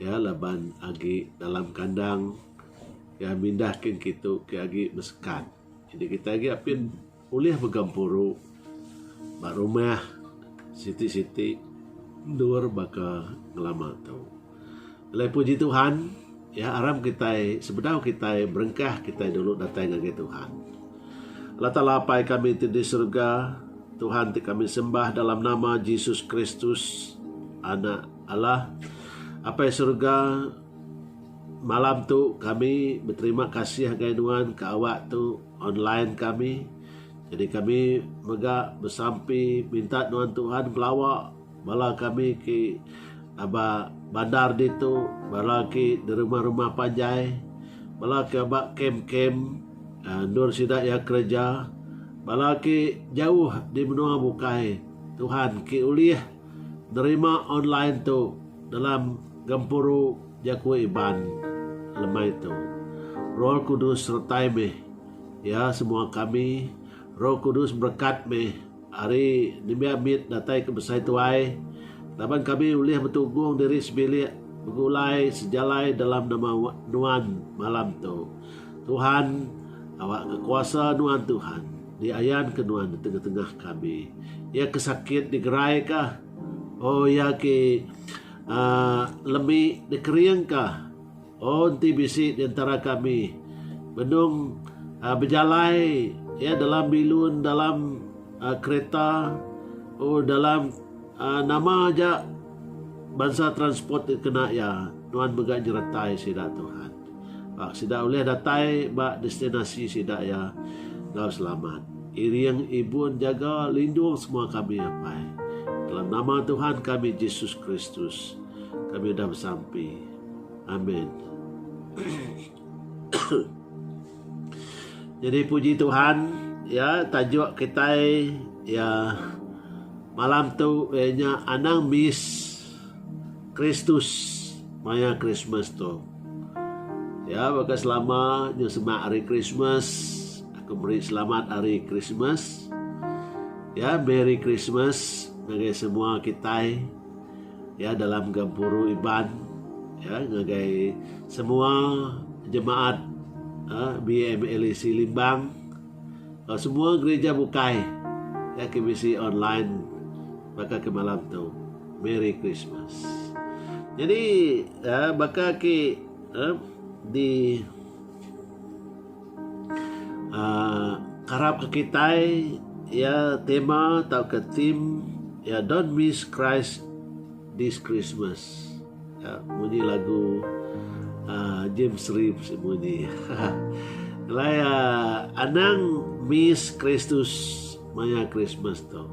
iya laban agi dalam kandang iya mindah kin kitu ke agi besekat jadi kitai agi apin ulih begempuru ba rumah siti siti endur baka ngelama tu. Alai puji Tuhan iya aram kitai sebedau kitai berengkah kitai dulu datai ngagai Tuhan. Allah Taala Apai kami ti di serega Tuhan ti kami sembah dalam nama Jesus Kristus anak Allah, Apai Surga, malam tu kami beterima kasih ngagai Nuan ke awak tu online kami. Jadi kami mega besampi minta Nuan Tuhan pelawa bala kami ke aba bandar ditu, bala ke derumah-rumah panjai, bala ke aba kem-kem aaa endur sida iya kereja, bala ke jauh di menua bukai. Tuhan ke ulih. Nerima online tu dalam gempuru jaku Iban lemai tu. Roh Kudus sertai mih iya semua kami. Roh Kudus berekat mih ari nembiak mit datai ke besai tuai laban kami ulih betunggung diri sebilik begulai sejalai dalam nama Nuan malam tu. Tuhan awakka kuasa Nuan Tuhan. Diayan ke nuan di tengah-tengah kami. Iya ke sakit digerai ka. Oh iya ke uhh lemi dikering ka. Oh enti bisi di entara kami benung uhh bejalai iya dalam bilun dalam uhh kereta oh dalam uhh nama aja bansa transport ti kena iya nuan mega nyeretai sida Tuhan. Sida ulih datai ba destinasi sida iya enggau selamat. Iring ibun jaga lindung semua kami apai. Dalam nama Tuhan kami Jesus Kristus kami udah besampi. Amen. Jadi puji Tuhan ya tajuk kitai ya malam tu ianya anang miss Kristus maya Krismas tu. Ya baka selama nya semak hari Krismas aku meri selamat hari Krismas. Ya Merry Christmas ngagai semua kitai ya dalam gempuru Iban ya ngagai semua jemaat ha, BMLEC Limbang. Ba semua gerija bukai iya ke bisi online baka ke malam tu. Merry Christmas. Jadi uh, baka ke uh, di uh, karap ke kitai ya tema atau ke theme ya don't miss Christ this Christmas. Munyi lagu James Reeves ti munyi. Alai anang miss Kristus maya Krismas tu.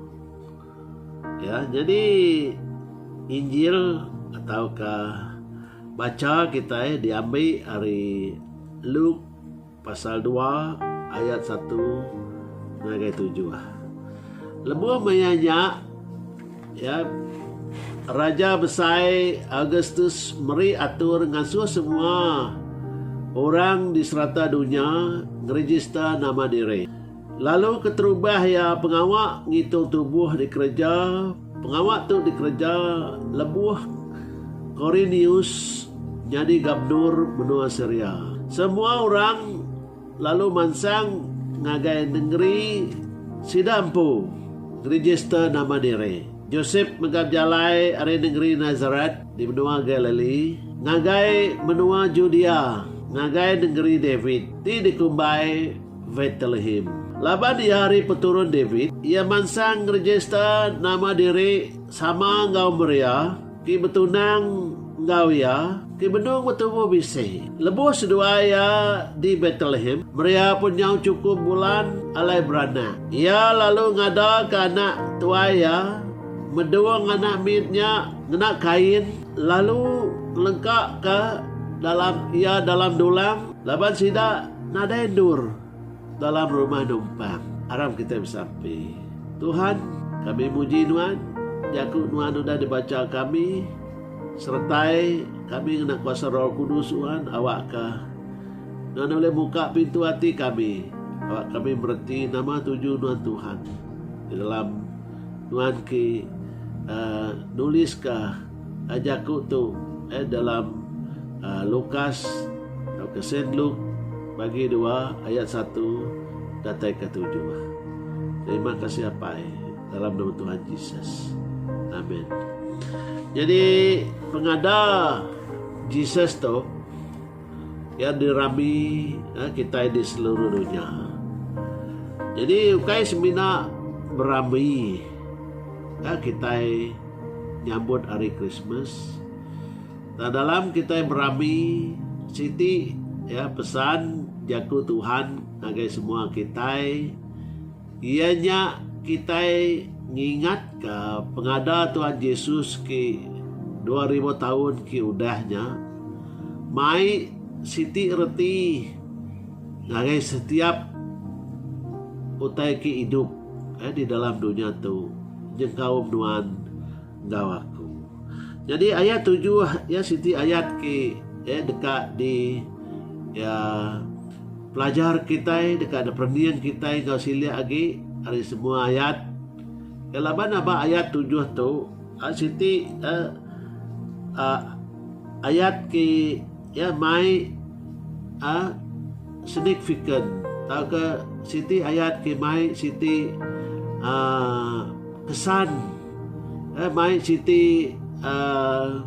Ya, nyadi Injil atauka bacha kitai diambi ari Luke. Pasal dua ayat satu ngagai tujuh. Lebuh maya nya, ya, Raja Besai Augustus meri atur ngasuh semua orang di serata dunya ngerijista nama diri. Lalu keterubah iya pengawa ngitung tubuh dikereja, pengawa tu dikereja lebuh Korinius nyadi gubernur menua Siria. Semua orang lalu mansang ngagai nengeri sida empu ngerijista nama diri. Josep mega bejalai ari nengeri Nasaret di menua Galili ngagai menua Judea, ngagai nengeri David ti dikumbai. Betlehem. Laban iya ari peturun David, iya mansang ngerejista nama diri sama enggau Maria ti betunang enggau iya ti benung betubuh bisi. Lebuh seduai iya di Betlehem, Maria pun nyau chukup bulan alai beranak. Iya lalu ngadaka anak tuai iya medung anak mit nya ngena kain lalu ngelengkaka dalam iya dalam dulang laban sida Nadai endur dalam rumah numpang. Aram kitai besampi. Tuhan, kami muji Nuan, jaku Nuan udah dibacha kami, seretai kami ngena kuasa Roh Kudus Nuan awakka Nuan ulih muka pintu ati kami awak kami mereti nama tuju Nuan Tuhan di dalam Nuan ke nuliska Jaku tu eh dalam Lukas tauka Saint Luke bagi dua ayat satu datai ke tujuh. Terima kasih Apai dalam nama Tuhan Jesus. Amen. Jadi pengada Jesus tu Iya dirami kitai di seluruh dunya. Jadi ukai semina berami kitai nyambut hari Christmas. Tang dalam kitai berami siti pesan jaku Tuhan ngagai semua kitai. Iya nya kitai ngingatka pengada Tuhan Jesus ke dua ribu taun ke udah nya mai siti reti ngagai setiap utai ke idup di dalam dunya tu nyengkaum nuan enggau aku. Nyadi aya tujuh iya siti ayat ke eh deka di iya pelajar kitai deka di perening kitai enggau silik agi ari semua ayat ke laban aba ayat tujuh tu siti eh ayat ke Iya mai a signifikan tauka siti ayat ke mai siti aaa kesan eh mai siti aaa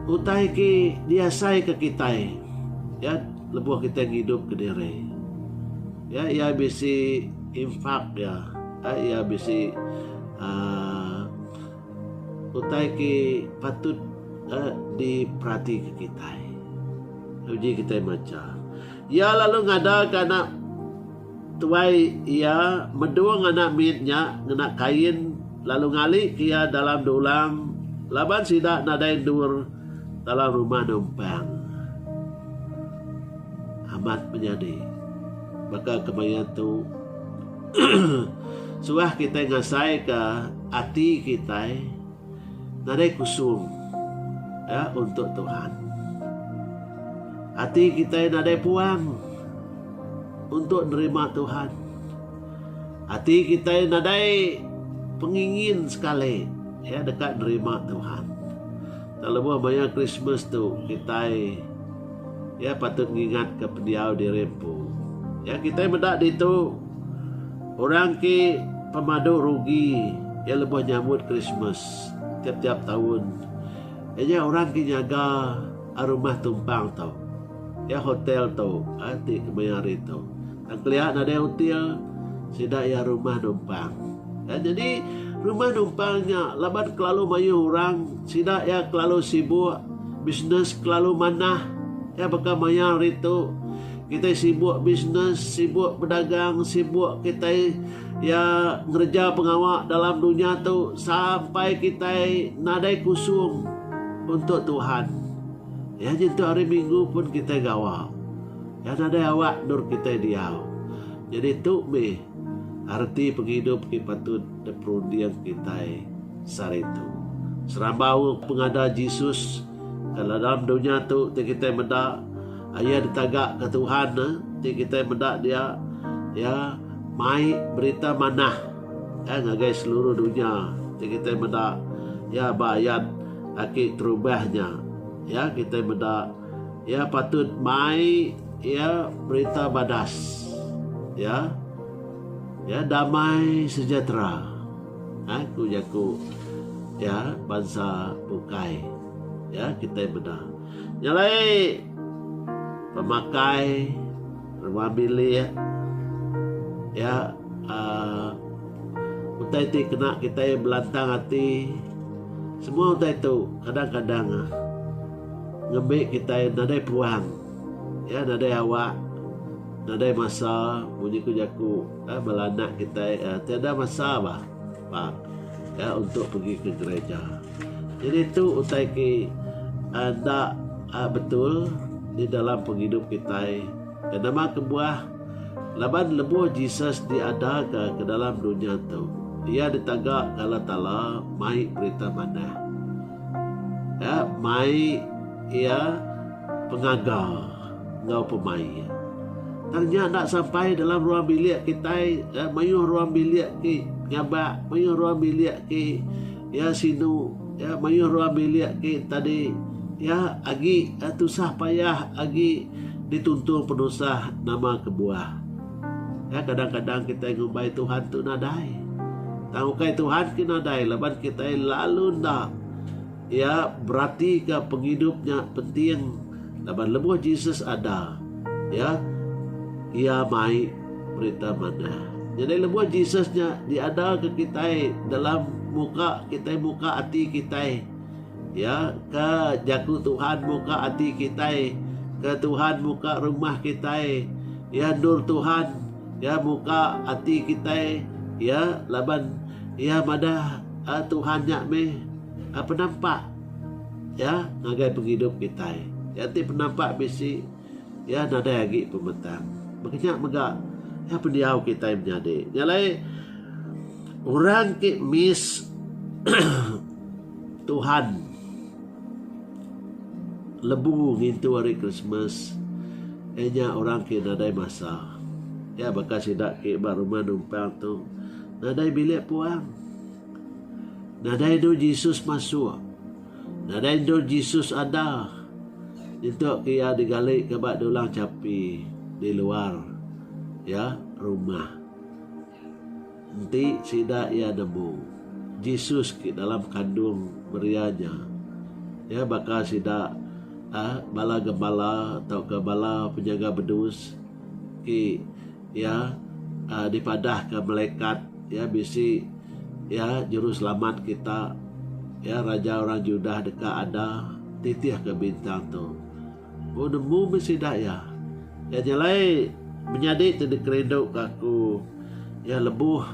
utai ke diasai ke kitai ya lebuh kitai ngidup kediri. Ya iya bisi impak iya, iya bisi aaa Utai ke patut diperatika kitai lalu uji kitai macha. Iya lalu ngadaka anak tuai iya medung anak mit nya ngena kain lalu ngalika iya dalam dulang laban sida nadai endur dalam rumah numpang. Amat menyadi baka kemaya tu. Suah kitai ngasaika ati kitai nadai kusung ya untuk Tuhan. Ati kitai nadai puang untuk nerima Tuhan. Ati kitai nadai pengingin sekali ya deka nerima Tuhan. Tak lebuh maya Christmas tu kitai Iya patut ngingatka pendiau diri empu. Ya kitai meda ditu orang ke pemadu rugi iya lebuh nyambut Krismas tiap-tiap taun. Iya nya orang ke nyaga a rumah tumpang tu. Ya hotel tu a ti kemaya hari tu. Tang kelia nadai util sida iya rumah numpang. Ya nyadi rumah numpang nya laban kelalu mayuh orang, sida iya kelalu sibuk, bisnes kelalu manah. Ya baka maya hari tu kitai sibuk bisnes, sibuk bedagang, sibuk kitai ya ngereja pengawa dalam dunya tu sampai kitai nadai kusung untuk Tuhan. Ya nyentuk hari minggu pun kitai gawa. Nya nadai awak endur kitai diau. Nyadi tu mih arti pengidup ti patut diperunding kitai sehari tu. Serabau pengada Jesus, kala dalam dunya tu ti kitai meda, Iya ditagaka Tuhan ti kitai meda dia, iya mai berita manah ngagai seluruh dunya ti kitai meda iya ba ayat aki terubah nya. Iya kitai meda. Iya patut mai iya berita badas. Iya iya damai sejahtera. Ha, ku jaku iya bansa bukai. Iya kitai meda. Nya alai pemakai rumah bilik iya uh, utai ti kena kitai belantang ati semua utai tu kadang-kadang uh, Ngembi kitai nadai peluang, iya nadai awak, nadai masa munyi ku jaku eh bala anak kitai eh tiada masa bah pak iya untuk pegi ke gereja. Jadi tu utai ke eh enda eh betul di dalam pengidup kitai. Ke nama kebuah laban lebuh Jesus diada ka ke dalam dunya tu iya ditaga ka Allah Taala mai perintah manah. Iya mai iya pengaga enggau pemai iya. Tang nya enda sampai dalam ruang bilik kitai ya mayuh ruang bilik ti nyabak mayuh ruang bilik ti ya sinu ya mayuh ruang bilik ti tadi ya agi tusah payah agi dituntung penusah nama kebuah. Nya kadang-kadang kitai ngumbai Tuhan tu nadai. Tang ukai Tuhan ke nadai laban kitai lalu enda iya beratika pengidup nya penting laban lebuh Jesus ada ya iya mai berita manah. Jadi lebuh Jesus nya diada ke kitai dalam muka kitai muka ati kitai Ya ke jaku Tuhan muka ati kitai ke Tuhan muka rumah kitai ya endur Tuhan ya muka ati kitai ya laban ya madah eh, Tuhan nya meh eh, penampak ya ngagai pengidup kitai ya ti penampak bisi ya nadai agi pemetang bekenya mega ya pendiau kitai menyadi nya lai orang ke miss Tuhan lebu ngintu hari Christmas eh nya orang ke nadai masa. Ya baka sida ke ba rumah numpang tu nadai bilik puang. Nadai endur Jesus masuk. Nadai endur Jesus ada. Nyentuk ke iya digali ke ba dulang chapi di luar ya rumah. Enti sida iya nemu Jesus ke dalam kandung Maria nya, iya baka sida bala gembala tauka bala penyaga bedus ti iya dipadahka melekat iya bisi iya juru selamat kita, iya raja orang Judah deka ada titihka bintang tu. Ku nemu meh sida iya. Iya jalai menyadi ti dikerinduka aku iya lebuh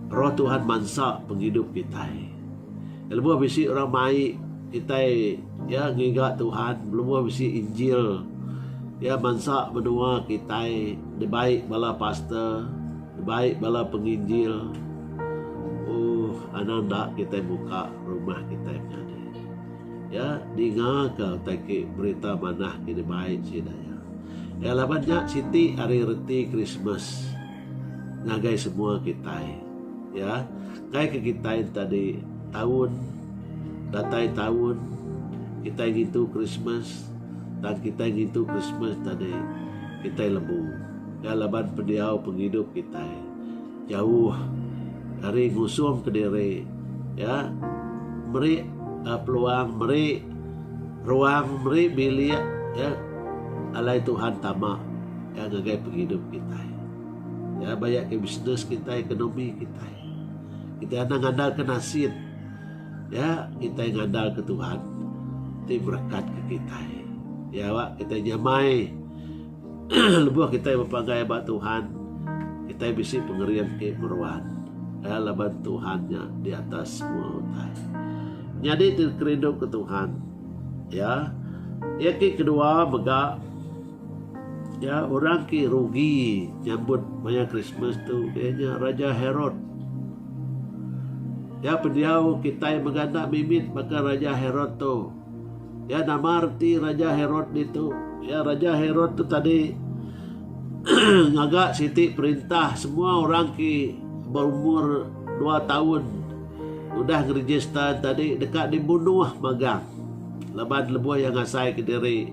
Roh Tuhan mansa pengidup kitai. Iya lebuh bisi orang mai kitai iya ngiga Tuhan lebuh bisi injil iya mansa menua kitai dibai bala pastor dibai bala penginjil ooh anang enda kitai muka rumah kitai menyadi. Iya ningaka utai ke berita manah ke dibai sida iya. Iya laban nya siti ari reti Krismas ngagai semua kitai. Iya, enggai ke kitai tadi taun datai taun kitai ngintu Krismas tang kitai ngintu Krismas tadi kitai lebu. Iya laban pendiau pengidup kitai. Jauh ari ngusung kediri iya meri peluang meri ruang meri bilik iya alai Tuhan tama iya ngagai pengidup kitai. Iya baya ke bisnes kitai ekonomi kitai. Kitai enda ngandalka nasin iya kitai ngandalka Tuhan ti berekat ke kitai. Iya kitai nyamai. Lebuh kitai bepagai ba Tuhan, kitai bisi pengering ti meruan laban Tuhan nya di atas semua utai. Nyadi ti kerinduka Tuhan ya iya ti kedua mega ya orang ti rugi nyambut maya Christmas tu iya nya Raja Herod. Ya pendiau kitai mega enda mimit baka Raja Herod tu. Iya nama reti Raja Herod ditu? Iya Raja Herod tu tadi ngaga siti perintah semua orang ki berumur dua tahun udah ngeregister tadi deka dibunuh magang laban lebuh iya ngasai ke diri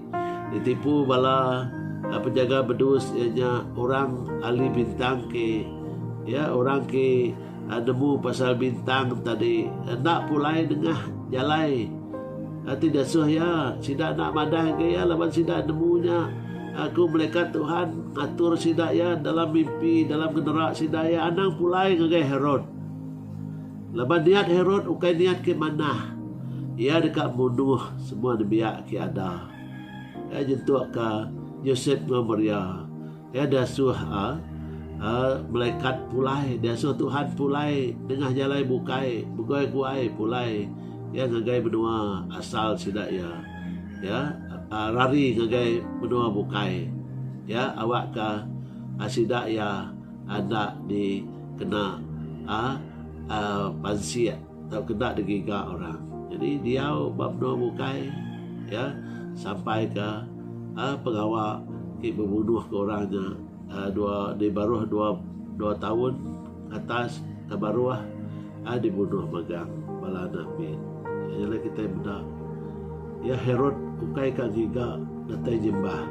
ditipu bala eh, penjaga bedus iya nya orang ahli bintang ki ya orang ki Nemu pasal bintang tadi enda pulai nengah jalai ti disuh iya. Sida enda madah ke iya laban sida nemu nya. Aku melikat Tuhan ngatur sida iya dalam mimpi dalam genera sida iya anang pulai ngagai Herod. Laban niat Herod ukai niat ke manah. Iya deka munuh semua nembiak ke ada. Iya nyentukka Josep enggau Maria. Iya diasuh a a melekat pulai diasuh Tuhan pulai nengah jalai bukai begoi guai pulai iya ngagai menua asal sida iya iya rari ngagai menua bukai iya awakka sida iya enda dikena a a pansik. Tau keda digiga orang. Jadi diau ba menua bukai iya sampai ke pengawa ti bebunuhka orang nya dua di baruh dua dua taun ke atas ke baruh dibunuh megang bala anak mit. Iya nya kitai meda iya Herod ukai ka ngiga datai nyembah.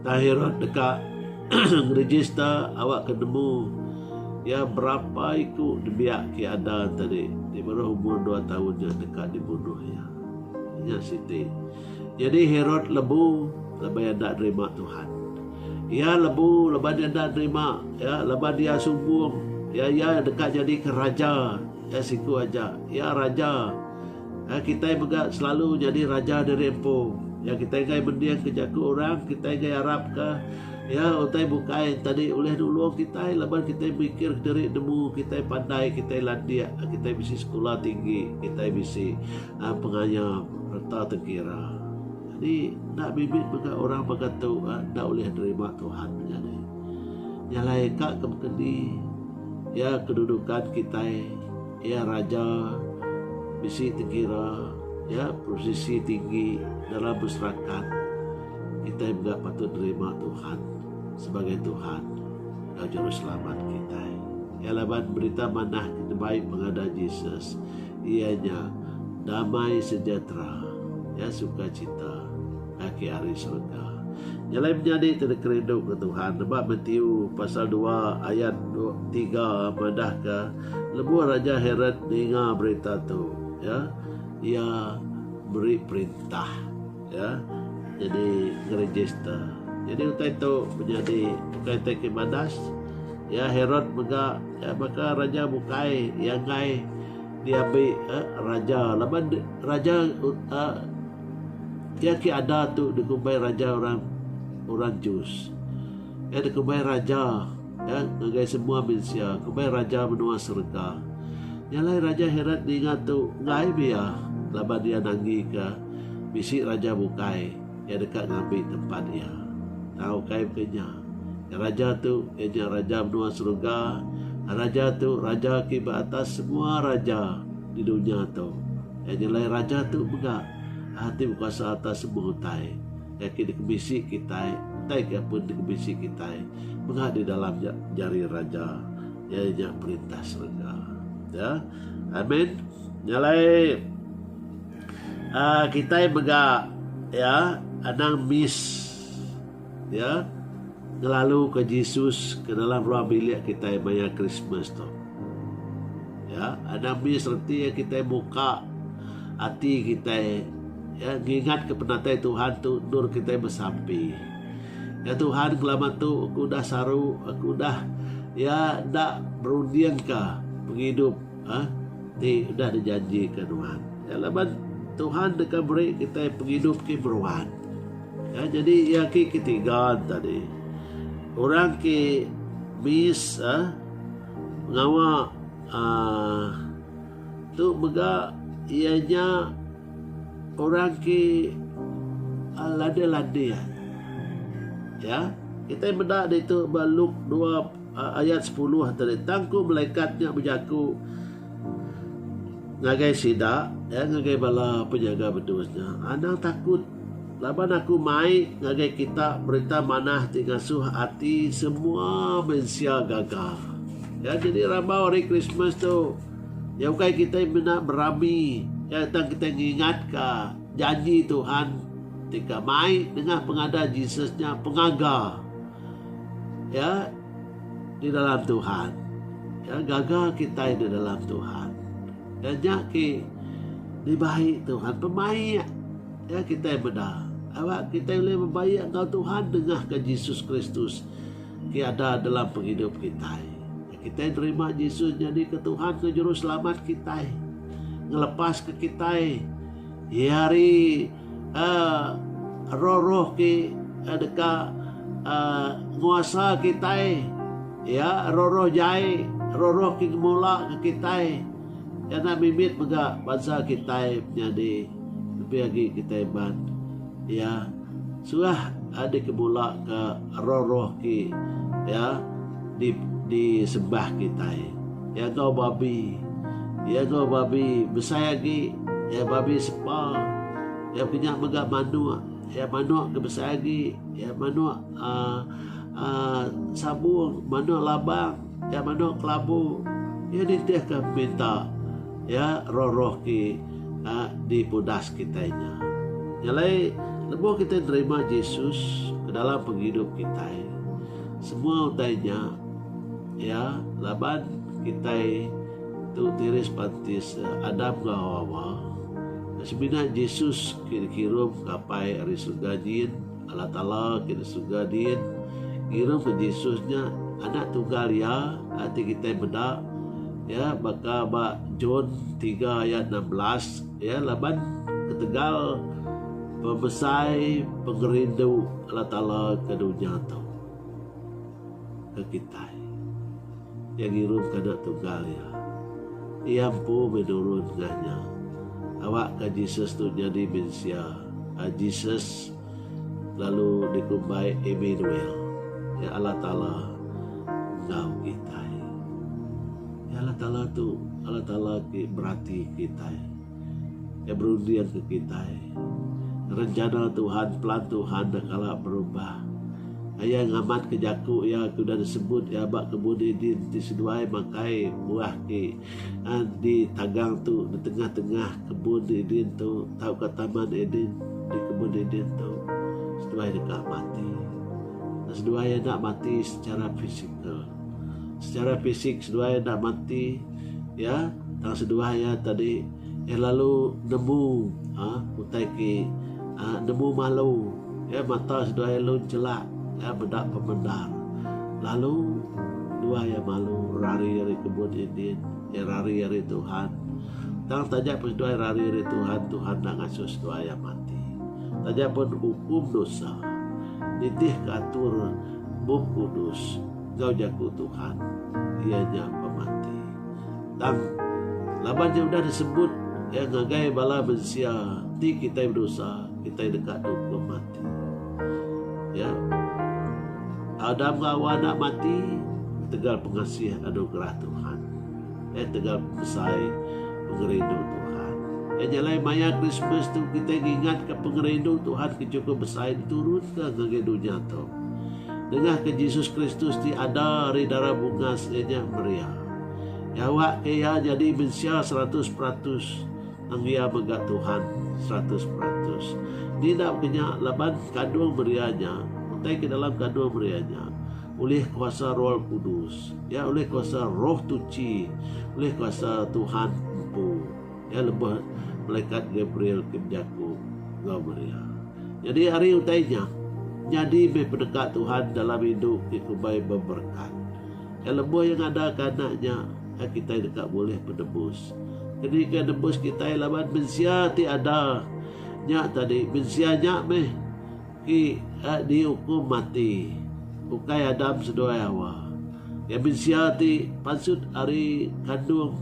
Tang Herod deka ngeregister awakka nemu. Iya berapa iku dibiak ke ada tadi ti baruh umur dua taun ja deka dibunuh iya. Nya siti. Nyadi Herod lebu laban iya enda nerima Tuhan. Iya lebu laban iya enda nerima ya laban iya sumbung ya iya deka nyadika raja ya siku aja. Iya raja. Ai kitai mega selalu nyadi raja diri empu. Ya kitai enggai mending ke jaku orang, kitai enggai arap ke ya utai bukai tadi ulih nulung kitai laban kitai mikir kediri nemu kitai pandai, kitai landik, kitai bisi sekula tinggi, kitai bisi uh, pengaya reta tengkira. Jadi enda bibit mega orang baka tu uh, enda ulih nerima Tuhan jadi. Nyalai ka ke keni ya kedudukan kitai Iya raja bisi dikira iya beposisi tinggi dalam masyarakat. Kitai mega patut nerima Tuhan sebagai Tuhan enggau Juruselamat kitai. Iya laban berita manah ti dibai pengadah Jesus iya nya damai sejahtera, iya sukacita kaki ari serega. Nyelai menyadi ti dikerinduka Tuhan. Nebak Matiu pasal dua ayat tiga madahka. Lebuh Raja Herod ninga berita tu, ya, iya meri perintah, ya, jadi ngeregister. Jadi utai tu menyadi bukai tai ke badas, ya, Herod mega, ya, baka raja bukai iya enggai diambi eh, raja laban raja eh, iya ke ada tu dikumbai raja orang orang Jews. Iya dikumbai raja. Ka ngagai semua mensia, kombai raja menua serega. Nya alai Raja Herod ninga tu enggai be iya laban iya nanggika bisi raja bukai iya deka ngambi tempat iya. Tang ukai mega nya. Ka raja tu iya nya raja menua serega, raja tu raja ke ba atas semua raja di dunya tu. Nya alai raja tu mega ti bekuasa atas semua utai. Iya ke dikebisi kitai, utai ke pun dikebisi kitai, mega di dalam ja, jari Raja, iya nya Perintah Serega. Ya. Amin. Nya alai uh, kitai mega ya anang miss ya ngelalu ke Jesus ke dalam ruang bilik kita maya Christmas tu. Ya, ada mih sereti iya kitai muka ati kitai ya ngingat ke penatai Tuhan tu endur kitai besampi. Ya Tuhan kelama tu aku udah saru, aku udah ya enda berunding ke pengidup ha? ti udah dijanji ke Tuhan. Ya laban Tuhan deka beri kitai pengidup ki beruan. Ya, jadi iya ki ketiga tadi. Orang ki mis ha? Pengawa tu mega iya nya orang ti landik landik iya. Kitai meda ditu ba Luk dua ayat sepuluh tadi tang ku malaikat nya bejaku ngagai sida ngagai bala penyaga bedus nya anang takut. Laban aku mai ngagai kita berita manah ti ngasuh ati semua mensia gaga. Ya jadi rambau hari Christmas tu. Ya ukai kita menda berami ya tang kita ngingat ka janji Tuhan ti ka mai nengah pengada Jesus nya pengaga. Ya di dalam Tuhan. Ya gaga kita di dalam Tuhan. Taja ke dibai Tuhan pemaik ya kitai meda. Awak kitai ulih bebaik enggau Tuhan dengah ke Jesus Kristus ke ada dalam penghidup kitai. Ya, kitai nerima Jesus jadi ke Tuhan ke juru selamat kitai. Ngelepas ke kitai ya hari roh-roh ti deka nguasa kitai iya roh-roh jai roh-roh ti ngemula ke kitai ena mimit mega bansa kitai menyadi lebih agi kitai ban iya suah dikemula ka roh-roh ti iya disembah kitai iya gawa babi iya gawa babi besai agi iya babi sepa iya kinya mega manuk iya manuk ke besai agi iya manuk aaa sabung manuk labang iya manuk kelabu iya nitihka minta Iya roh-roh ke dipudas kitai nya. Nya alai, lebuh kitai nerima Jesus ke dalam pengidup kitai, semua utai nya iya laban kitai tu tiris pantis Adam enggau Hawa. Semina Jesus ke dikirum ngapai ari serega nyin. Allah Taala ke di surga din ngirum ke Jesus nya anak tunggal iya ati kitai meda ya baka ba John tiga ayat enam belas ya laban ketegal pemesai pengerindu Allah Taala ke dunya tu. ke kitai. Iya ngirum ke Anak Tunggal iya. Iya empu meh nurun ngah nya. Awak ka Jesus tu nyadi mensia, a Jesus lalu dikumbai Immanuel, iya Allah Taala enggau kitai. Iya Allah Taala tu, Allah Taala ti berati kitai. Iya berundingka kitai rencana Tuhan, pelan Tuhan enda kala berubah. Iya ngamatka jaku Iya ke udah disebut Iya ba Kebun Eden ti seduai makai buah ti eh, di tagang tu, di tengah-tengah Kebun Eden tu tauka Taman Eden di Kebun Eden tu seduai deka mati. Seduai enda mati secara fizikal. Secara fisik seduai enda mati iya tang seduai iya tadi iya lalu nemu aaa utai ti aaa nemu malu iya mata seduai lalu chelak iya meda pemendar lalu duai iya malu rari ari kebun dindin iya rari ari Tuhan tang taja pun seduai rari ari Tuhan Tuhan enda ngasuh seduai iya mati taja pun ukum dosa nitihka atur. Bup Kudus enggau Jaku Tuhan iya nya pemanti. Tang laban nya udah disebut iya ngagai bala mensia enti kitai bedosa kitai deka duduk pemanti. Ya. Adam enggau Hawa enda manti ketegal pengasih anugerah Tuhan. Eh tegal besai pengerindu Tuhan. Iya nya alai maya Krismas tu kitai ngingatka pengerindu Tuhan ke chukup besai diturunka ngagai dunya tu. Nengahka Jesus Kristus ti ada ari dara bungas iya nya Maria. Iya awakka iya nyadi mensia seratus peratus tang iya mega Tuhan seratus peratus. Ni enda baka nya laban kandung Maria nya utai ke dalam kandung Maria nya ulih kuasa Roh Kudus. Iya ulih kuasa Roh Tuchi, ulih kuasa Tuhan empu. Iya lebuh melekat Gabriel ke bejaku enggau Maria. Nyadi ari utai nya, nyadi meh peneka Tuhan dalam indu ti kumbai beberekat. Kai lebuh iya ngadaka Anak nya, kai kitai deka bulih penebus. Keni ke nembus kitai laban mensia ti ada nya tadi? Mensia nya meh. Ti ka diukum mati ukai Adam seduai Hawa. Iya mensia ti pansut ari kandung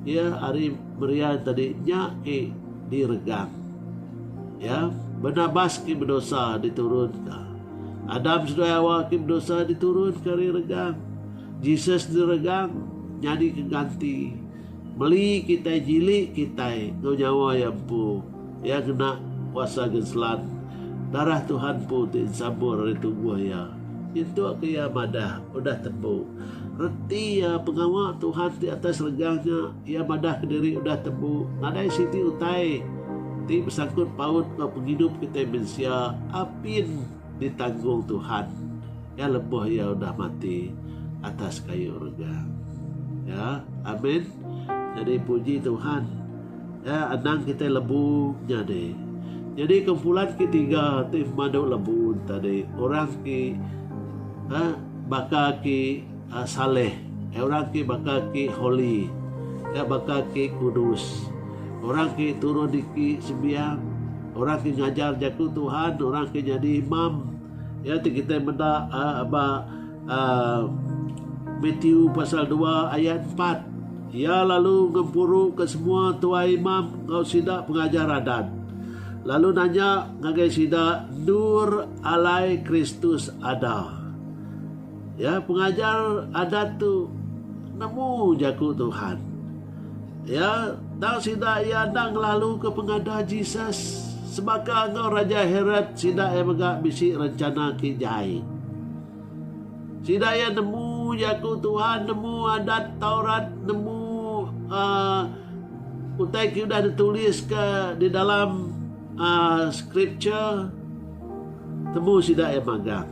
iya ari Marian tadi nya ke diregang. Ya, Barnabas ke bedosa diturunka. Adam seduai Hawa ke bedosa diturunka ari regang. Jesus diregang nyadika ganti meli kitai nyili kitai enggau nyawa iya empu. Iya ngena kuasa genselan. Darah Tuhan empu ti ensabur ari tubuh iya. Nyentuk ke iya madah, udah tembu. Reti iya pengawa Tuhan ti atas serega nya. Iya madah kediri udah tembu. Nadai siti utai ti besangkut paut enggau pengidup kitai mensia apin. Ditanggung Tuhan ya lebuh iya udah mati atas kayu rega. Ya. Amin. Nyadi puji Tuhan. Ya anang kitai lebu nyadi. Nyadi kumpulan ke tiga ti madu lebu tadi orang ti ha baka ki Saleh, iya orang ti baka ki Holly, iya baka ki Kudus. Orang ti turun iki sembiang, orang ti ngajar jaku Tuhan, orang ti nyadi imam, iya ti kitai meda uhh ba uhh Matthew pasal dua ayat empat. Iya lalu ngempuru ke semua tuai imam enggau sida pengajar adat lalu nanya ngagai sida endur alai Kristus ada. Ya, pengajar adat tu nemu jaku Tuhan. Ya, tang sida iya enda ngelaluka pengada Jesus. Sebaka enggau Raja Herod, sida iya mega bisi rencana ke jai. Sida iya nemu jaku Tuhan, nemu adat Taurat, nemu uh, utai ke udah dituliska di dalam Scripture temu sida iya magang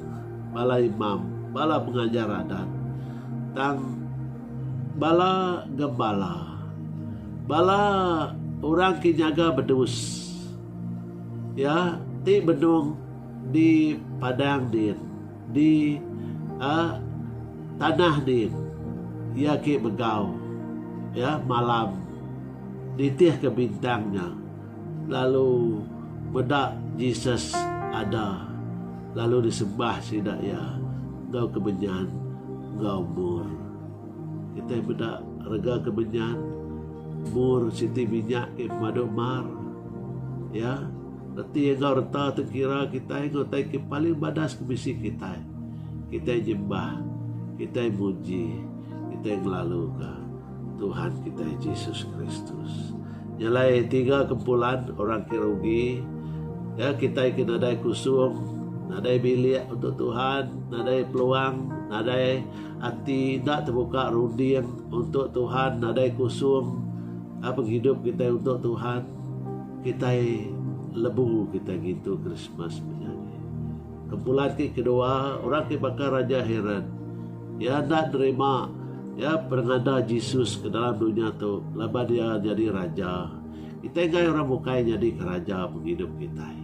bala imam, bala pengajar adat, tang bala gembala, bala orang ke nyaga bedus iya ti benung di padang din, di tanah din iya ke begau malam nitihka bintang nya. Lalu meda Jesus ada, lalu disembah sida iya enggau kemenyan enggau mur. Kitai meda rega kemenyan, mur siti minyak ke pemadu mar. Ya, reti enggau reta tu kira kitai enggau utai ke paling badas ke bisi kitai. Kitai nyembah, kitai muji, kitai ngelaluka. Tuhan kitai Jesus Kristus. Nya alai tiga kempulan orang ke rugi ya kitai ke nadai kusung, nadai bilik untuk Tuhan, nadai peluang, nadai ati enda tebuka runding untuk Tuhan, nadai kusung ah, penghidup kitai untuk Tuhan. Kitai lebu kitai ngintu Krismas menyadi. Kepulai ti kedua, orang ti baka Raja Herod. Iya enda nerima iya pengada Jesus ke dalam dunya tu laban iya nyadi raja. Kitai enggai orang bukai nyadika raja pengidup kitai.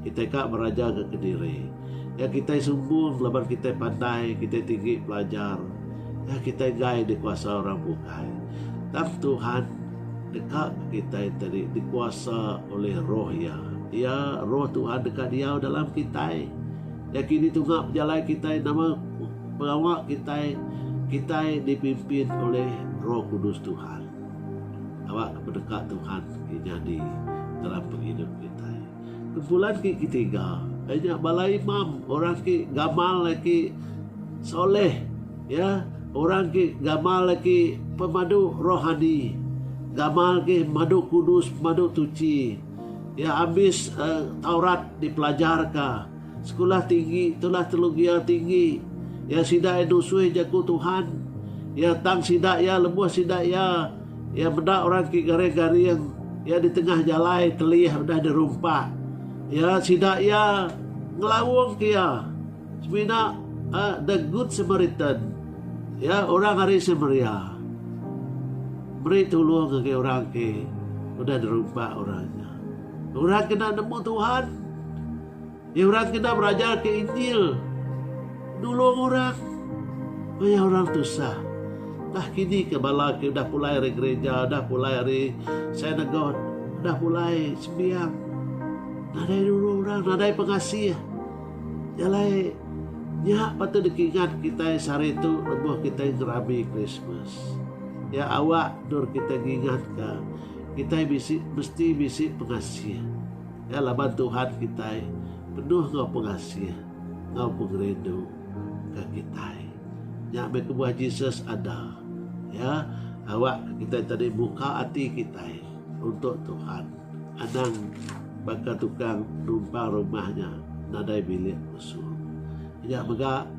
Kitai ka berajaga kediri. Ya kitai sumbung laban kitai pandai, kitai tinggi pelajar. Ya kitai enggai dikuasa orang bukai. Tang Tuhan Deka kitai tadi dikuasa ulih Roh Iya. Iya, Roh Tuhan deka diau dalam kitai. Iya kini tunga pejalai kitai nama pengawa kitai kitai dipimpin ulih Roh Kudus Tuhan. Awakka peneka Tuhan ke nyadi dalam pengidup kitai. Kumpulan ti ketiga iya nya bala imam orang ti gamal agi soleh iya orang ti gamal agi pemadu rohani gamal agi madu kudus madu tuchi iya ambis taurat dipelajar ka skulah tinggi tulah telu gia tinggi iya sida nusui jaku Tuhan iya tang sida iya lebuh sida iya Iya meda orang ti garing-garing iya di tengah jalai telih udah dirumpak iya sida iya ngelaungka iya semina uh, the good samaritan ya orang ari Samaria beri tulung ke orang ke udah dirumpak orang orang kena nemu Tuhan Ye orang kena berajarka Injil nulung orang pia orang tusah. Tah kini ke bala ke udah pulai ari gereja, udah pulai ari synagogue, udah pulai sembiang nadai nulung orang, nadai pengasih. Nya alai nya patut dikingat kitai sehari tu lebuh kitai ngerami Krismas. Nya awak endur kitai ngingatka kitai bisi mesti bisi pengasih. Nya laban Tuhan kitai penuh enggau pengasih enggau pengerindu ke kitai. Nya meh kebuah Jesus ada. Ya, awak ke kitai tadi muka ati kitai untuk Tuhan. Anang baka tukang numpang rumah nya nadai bilik khusus. Nya mega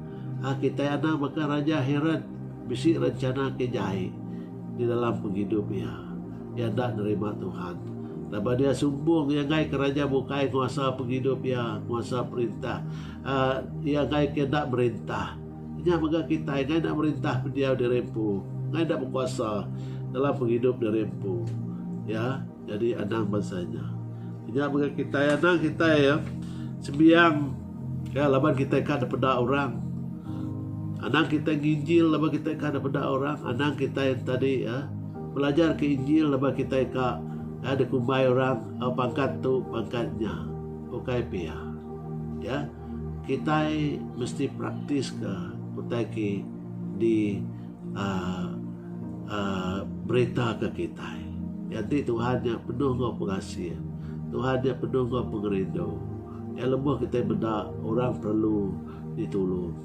ah, kitai anang baka Raja Herod bisi rencana ke jai di dalam pengidup iya. Iya enda nerima Tuhan. Laban iya sumbung, iya ngaika raja bukai nguasa pengidup iya, nguasa perintah. Uh, iya ngaika iya enda merintah. Nya mega kitai ngai enda merintah pendiau diri empu, ngai enda bekuasa dalam pengidup diri empu. Ya, jadi anang bansa nya. Nya mega kitai anang kitai ya. Sembiang Ka laban kitai ka dipeda orang. Anang kitai nginjil laban kitai ka dipeda orang. Anang kitai tadi ya belajar ke injil laban kitai ka ya dikumbai orang oh, pangkat tu pangkat nya. Ukai pia. Ya. Kitai mesti praktis ke utai ke di uh, uh, berita ke kitai. Jadi Tuhan nya penuh enggau pengasih. Tuhan nya penuh enggau pengerindu. Iya lebuh kitai meda orang perlu ditulung,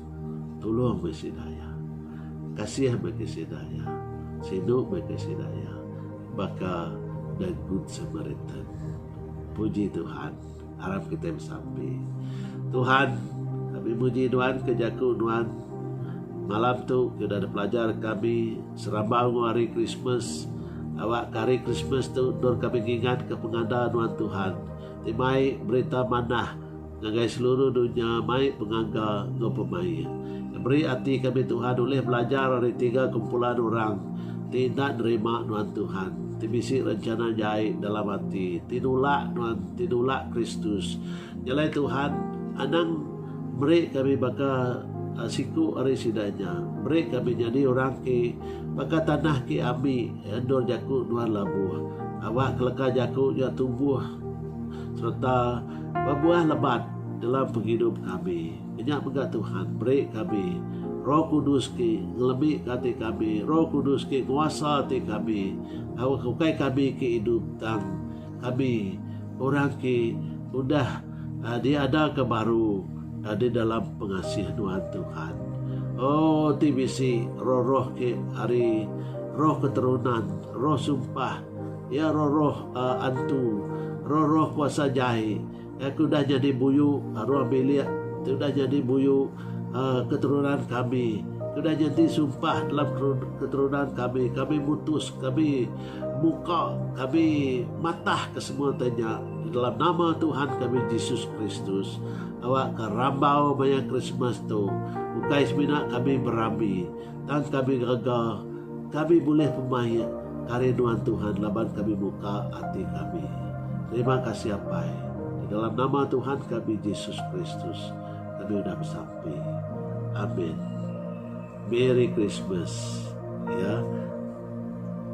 tulung meh sida iya. Kasih meh ke sida iya. Sinu meh ke sida iya. Baka The Good Samaritan. Puji Tuhan. Arap kitai besampi. Tuhan, kami muji Nuan ke jaku Nuan malam tu ke udah dipelajar kami serabau enggau hari Krismas. Awakka hari Krismas tu endur kami ngingatka pengada Nuan Tuhan. ti mai berita manah ngagai seluruh dunya mai pengaga enggau pemain. Meri ati kami Tuhan ulih belajar ari tiga kumpulan orang ti enda nerima nuan Tuhan, ti bisi rencana jai dalam ati, ti nulak nuan, ti nulak Kristus. Nyelai Tuhan anang meri kami baka siku ari sida nya. Meri kami nyadi orang ke baka tanah ke ambi. Endur jaku nuan labuh. Awak keleka jaku nya tumbuh sereta bebuah lebat dalam pengidup kami. Kenya mega Tuhan meri kami Roh Kudus ke ngelebika ati kami, Roh Kudus ke nguasa ati kami tauka ukai kami ke idup tang kami orang ke udah Diadaka baru di dalam pengasih nuan Tuhan. Oh ti bisi roh-roh ke ari roh keterunan, roh sumpah, iya roh-roh antu, roh-roh kuasa jai ke udah nyadi buyu ruang bilik ti udah nyadi buyu keterunan kami, ke udah nyadi sumpah dalam keterunan kami. Kami mutus, kami. Muka kami matah ke semua te nya di dalam nama Tuhan kami Jesus Kristus. Awak ke rambau maya Krismas tu ukai semina kami berambi tang kami rega kami bulih pemaik kari nuan Tuhan laban kami muka ati kami. Terima kasih Apai. Di dalam nama Tuhan kami Jesus Kristus kami udah besampi. Amin. Merry Christmas ya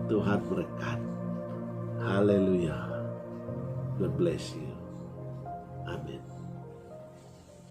Tuhan berkat Hallelujah God bless you Amen.